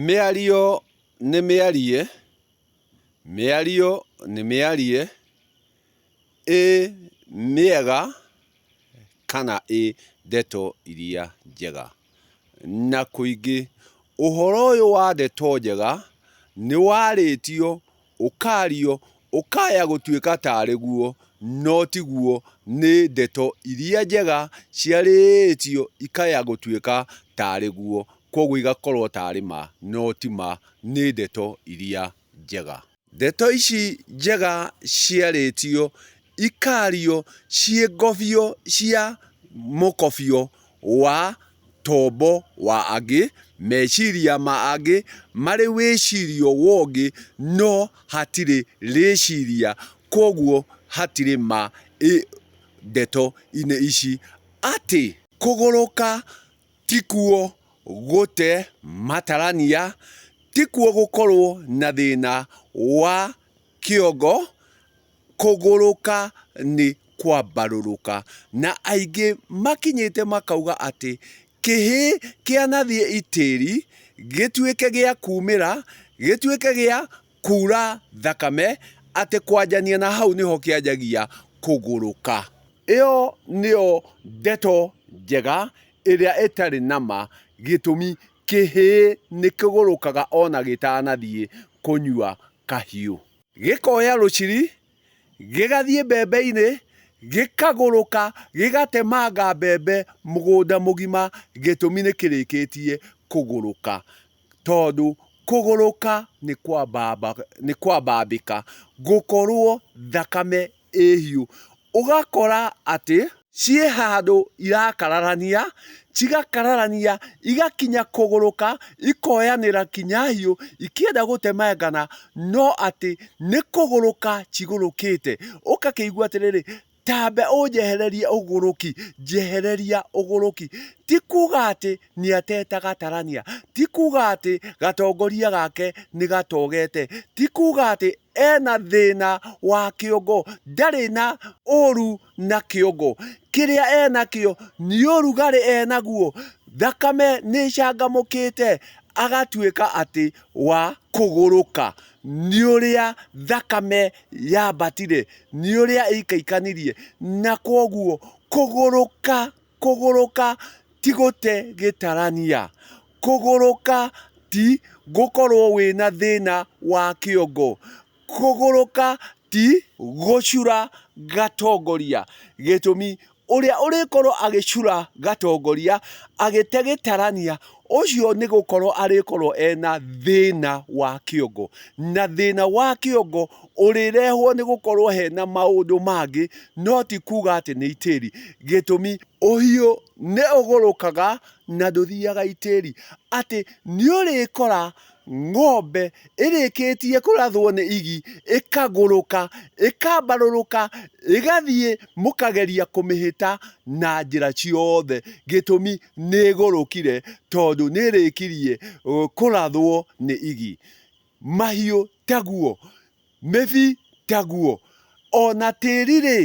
Mĩario nĩ mĩarie, mĩario nĩ mĩarie, ĩ mĩega kana ĩ ndeto iria njega. Na kũingĩ, ũhoro ũyũ wa ndeto njega nĩ warĩtio ũkaario ũkaya gũtuĩka tarĩ guo, no ti guo, nĩ ndeto iria njega ciarĩtio ikaya gũtuĩka tarĩ guo, kwoguo igakorwo tarĩ ma, no ti ma, nĩ ndeto iria njega. Ndeto ici njega ciarĩtio ikaario ciĩngobio cia mũkobio wa tombo wa angĩ, meciria ma angĩ marĩ wĩcirio wongĩ no hatirĩ rĩciria kwoguo hatirĩ ma ĩ ndeto inĩ ici atĩ. Kũgũrũka tikuo gũte matarania, tikuo gũkorwo na thĩna wa kĩongo kũgũrũka nĩ kwambarũrũka, na aingĩ makinyĩte makauga atĩ kĩhĩ kĩanathiĩ itĩri gĩtuĩke gĩa kumĩra, gĩtuĩke gĩa kura thakame, atĩ kwanjania na hau nĩho kĩanjagia kũgũrũka. Ĩyo nĩyo ndeto njega ĩrĩa ĩtarĩ na ma gĩtũmi. Kĩhĩĩ nĩkĩgũrũkaga o na gĩtanathiĩ kũnyua kahiũ. Gĩkoya rũciri, gĩgathiĩ mbembe-inĩ, gĩkagũrũka gĩgatemanga mbembe mũgũnda mũgima, gĩtũmi nĩ kĩrĩkĩtie kũgũrũka. Tondũ kũgũrũka nĩ kwambamba, nĩ kwambambĩka, gũkorũo thakame ĩhiũ ũgakora atĩ ciĩ handũ irakararania, cigakararania igakinya kũgũrũka ikoyanĩra kinya hiũ ikĩenda gũtemangana no atĩ nĩ kũgũrũka cigũrũkĩte. Ũgakĩigua atĩrĩrĩ tambe ũnjehererie ũgũrũki, njehereria ũgũrũki. Ti kuga atĩ nĩ atete gatarania, ti kuga atĩ gatongoria gake nĩ gatogete, ti kuga atĩ... ena thĩna wa kĩongo, ndarĩ na ũru na kĩongo, kĩrĩa enakĩo nĩ ũrugarĩ enaguo, thakame nĩ ĩcangamũkĩte, agatuĩka atĩ wa kũgũrũka, nĩ ũrĩa thakame yambatire, nĩ ũrĩa ĩikaikanirie, na kwoguo kũgũrũka. Kũgũrũka ti gũte gĩtarania. Kũgũrũka ti gũkorwo wĩna thĩna wa kĩongo. Kũgũrũka ti gũcura gatongoria. Gĩtũmi, ũrĩa ũrĩkorwo agĩcura gatongoria agĩte gĩtarania ũcio nĩ gũkorwo arĩkorwo ena thĩna wa kĩongo na thĩna wa kĩongo ũrĩrehwo nĩ gũkorwo hena maũndũ mangĩ no ti kuga atĩ nĩ itĩri gĩtũmi ũhiũ nĩ ũgũrũkaga na ndũthiaga itĩri atĩ nĩ ũrĩkora Ng'ombe ĩrĩkĩtie kũrathwo nĩ igi ĩkagũrũka, ĩkambarũrũka, ĩgathiĩ mũkageria kũmĩhĩta na njĩra ciothe, gĩtũmi nĩ ĩgũrũkire tondũ nĩ ĩrĩkirie kũrathwo nĩ igi. Mahiũ taguo. Mĩbi taguo. O na tĩri-rĩ,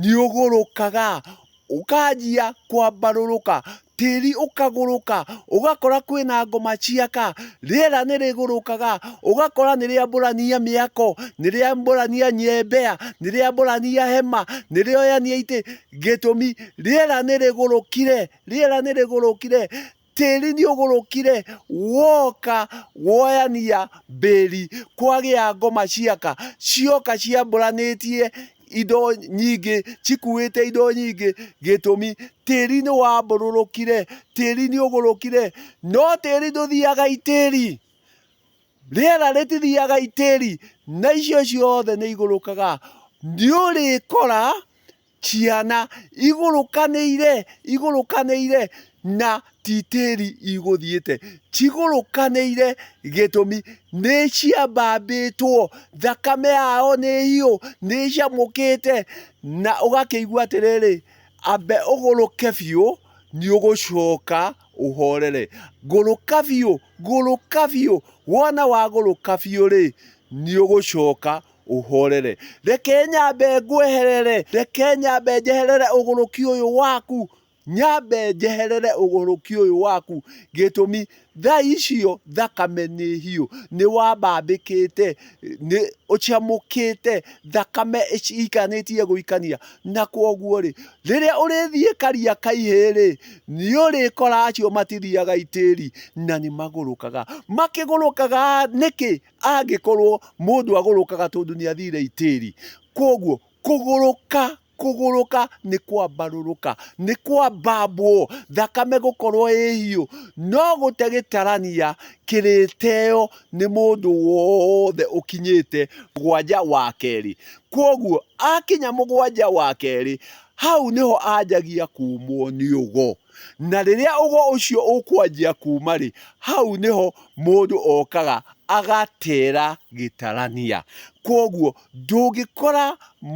nĩũgũrũkaga, ũkanjia kwambarũrũka, tĩri ũkagũrũka, ũgakora kwĩna ngoma ciaka, rĩera nĩrĩgũrũkaga, ũgakora nĩrĩambũrania mĩako, nĩrĩambũrania nyembea, nĩrĩambũrania hema, nĩrĩoyania itĩ, gĩtũmi, rĩera nĩrĩgũrũkire, rĩera nĩrĩgũrũkire. Tĩri nĩũgũrũkire woka woyania mbĩri, kwagĩa ngoma ciaka, cioka ciambũranĩtie indo nyingĩ, cikuĩte indo nyingĩ, gĩtũmi tĩri nĩwambũrũrũkire, tĩri nĩũgũrũkire. No tĩri ndũthiaga itĩri, rĩera rĩtithiaga itĩri, na icio ciothe nĩigũrũkaga. Nĩũrĩkora. ciana igũrũkanĩire, igũrũkanĩire na ti tĩri igũthiĩte, cigũrũkanĩire gĩtũmi nĩ ciambambĩtwo, thakame yao nĩ hiũ, nĩ ĩcamũkĩte, na ũgakĩigua atĩrĩrĩ, amba ũgũrũke biũ, nĩ ũgũcoka ũhorere. Ngũrũka biũ, ngũrũka biũ, wona wagũrũka biũ rĩ, nĩ ũgũcoka ũhorere. Reke nyambe ngweherere, reke nyambe njeherere ũgũrũki ũyũ waku, nyambe njeherere ũgũrũki ũyũ waku, gĩtũmi thaa icio thakame nĩ hiũ, nĩ wambambĩkĩte, nĩ ũcamũkĩte, thakame ĩikanĩtie gũikania, na kwoguo rĩ, rĩrĩa ũrĩthiĩ Kariakaiĩ rĩ, nĩ ũrĩkora acio matithiaga itĩri, na nĩ magũrũkaga. Makĩgũrũkaga nĩkĩ? angĩkorwo mũndũ agũrũkaga tondũ nĩ athire itĩri. Koguo kũgũrũka kũgũrũka nĩ kwambarũrũka, nĩ kwambambwo, thakame gũkorwo ĩ hiũ. No gũte gĩtarania kĩrĩteo nĩ mũndũ wothe ũkinyĩte mũgwanja wa kerĩ. Koguo akinya mũgwanja wa kerĩ, hau nĩho anjagia kuumwo nĩ ũgo. Na rĩrĩa ũgo ũcio ũkwanjia kuuma rĩ, hau nĩho mũndũ okaga agatera gĩtarania. Kwoguo ndũngĩkora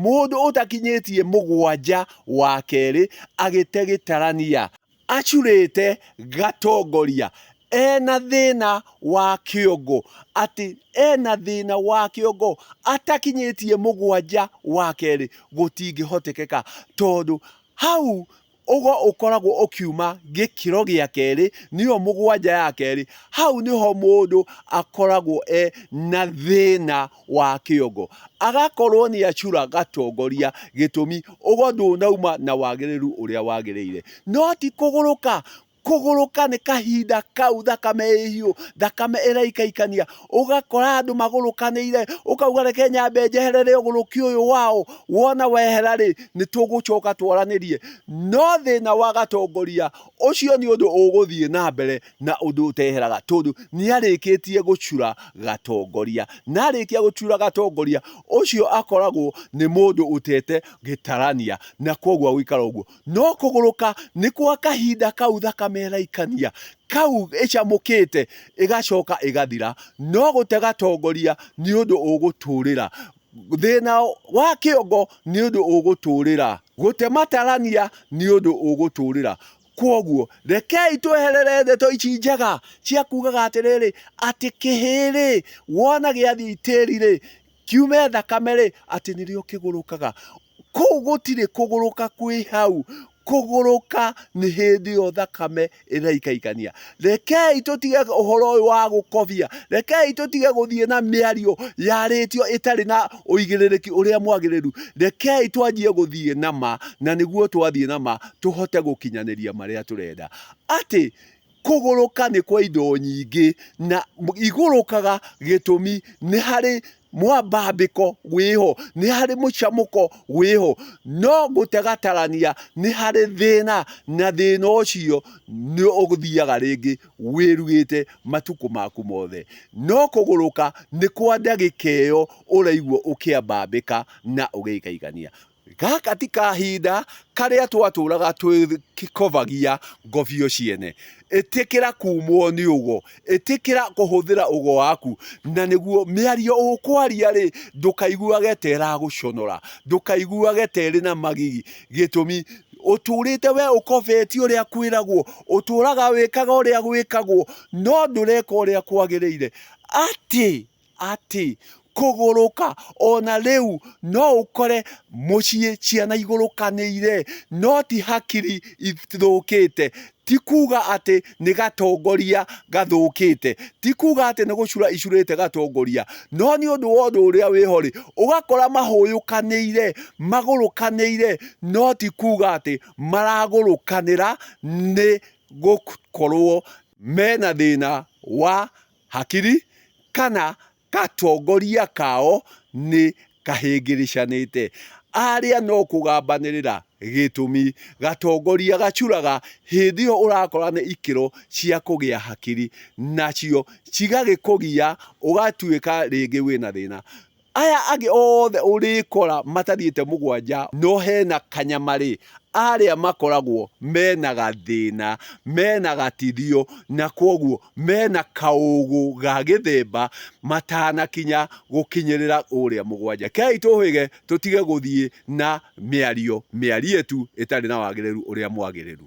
mũndũ ũtakinyĩtie mũgwanja wa kerĩ agĩte gĩtarania acurĩte gatongoria, ena thĩna wa kĩongo, atĩ ena thĩna wa kĩongo atakinyĩtie mũgwanja wa kerĩ gũtingĩhotekeka. Tondũ hau ũgo ũkoragwo ũkiuma gĩkĩro gĩa kerĩ, nĩyo mũgwanja ya kerĩ, hau nĩho mũndũ akoragwo e na thĩna wa kĩongo, agakorwo nĩ acura gatongoria, gĩtũmi ũgo ndũnauma na wagĩrĩru ũrĩa wagĩrĩire. No ti kũgũrũka, kũgũrũka nĩ kahinda kau thakame ĩhiũ thakame ĩraikaikania ũgakora andũ magũrũkanĩire ũkauga reke nyambe njeherere ũgũrũki ũyũ wao wona wehera rĩ nĩ tũgũcoka twaranĩrie no thĩna wa gatongoria ũcio nĩ ũndũ ũgũthiĩ na mbere na ũndũ ũteheraga tondũ nĩ arĩkĩtie gũcura gatongoria na arĩkia gũcura gatongoria ũcio akoragwo nĩ mũndũ ũtete gĩtarania na kwoguo gũikara ũguo. no kũgũrũka nĩ kwa kahinda kau thakame ya raikania kau ĩcamũkĩte ĩgacoka ĩgathira, no gũte gatongoria nĩ ũndũ ũgũtũrĩra, thĩna wa kĩongo nĩ ũndũ ũgũtũrĩra, gũte matarania nĩ ũndũ ũgũtũrĩra. Kwoguo rekei tweherere ndeto ici njega cia kugaga atĩrĩrĩ, atĩ kĩhĩĩ-rĩ, wona gĩathiĩ itĩri-rĩ, kiume thakame-rĩ, atĩ nĩrĩo kĩgũrũkaga. Kũu gũtirĩ kũgũrũka kwĩ hau, kũgũrũka nĩ hĩndĩ ĩyo thakame ĩraikaikania. Rekei tũtige ũhoro ũyũ wa gũkobia, rekei tũtige gũthiĩ na mĩario yarĩtio ĩtarĩ na ũigĩrĩrĩki ũrĩa mwagĩrĩru. Rekei twanjie gũthiĩ na ma, na nĩguo twathiĩ na ma tũhote gũkinyanĩria marĩa tũrenda. Atĩ Kũgũrũka nĩ kwa indo nyingĩ na igũrũkaga gĩtũmi nĩ harĩ mwambambĩko wĩho, nĩ harĩ mũcamũko wĩho, no gũtega-tarania nĩ harĩ thĩna na thĩna ũcio nĩ ũthiaga rĩngĩ wĩruĩte matukũ maku mothe. No kũgũrũka nĩ kwa ndagĩka ĩyo ũraigua ũkĩambambĩka na ũgĩikaikania. Gaka ti kahinda karĩa twatũũraga twĩkovagia ngobio ciene. Ĩtĩkĩra kuumwo nĩ ũgo. Ĩtĩkĩra kũhũthĩra ũgo waku. Na nĩguo, mĩario ũkwaria-rĩ, ndũkaiguage ta ĩragũconora. Ndũkaiguage ta ĩrĩ na magigi. Gĩtũmi, ũtũũrĩte wee ũkovetie ũrĩa kwĩragwo. Ũtũũraga wĩkaga ũrĩa gwĩkagwo, no ndũreka ũrĩa kwagĩrĩire. Atĩ, atĩ kũgũrũka ona rĩu no ũkore mũciĩ ciana igũrũkanĩire no ti hakiri ithũkĩte. Ti kuga atĩ nĩ gatongoria gathũkĩte, ti kuga atĩ nĩ gũcura icurĩte gatongoria, no nĩ ũndũ wa ũndũ ũrĩa wĩho rĩ, ũgakora mahũyũkanĩire, magũrũkanĩire no ti kuga atĩ maragũrũkanĩra nĩ gũkorwo mena thĩna wa Hakiri kana gatongoria kao nĩ kahĩngĩrĩcanĩte. Aria no kũgambanĩrĩra gĩtũmi. Gatongoria gacuraga hĩndĩ ĩyo ũrakora nĩ ikĩro cia kũgĩa hakiri nacio cigagĩkũgia ũgatuĩka rĩngĩ wĩna thĩna. Aya angĩ othe ũrĩkora matariĩte mũgwanja no hena kanyama rĩ, arĩa makoragwo mena gathĩna, mena gatithio na kwoguo mena kaũgũ ga gĩthemba matanakinya gũkinyĩrĩra ũrĩa mũgwanja. Kei tũhĩge tũtige gũthiĩ na mĩario mĩarie tu ĩtarĩ na wagĩrĩru ũrĩa mwagĩrĩru.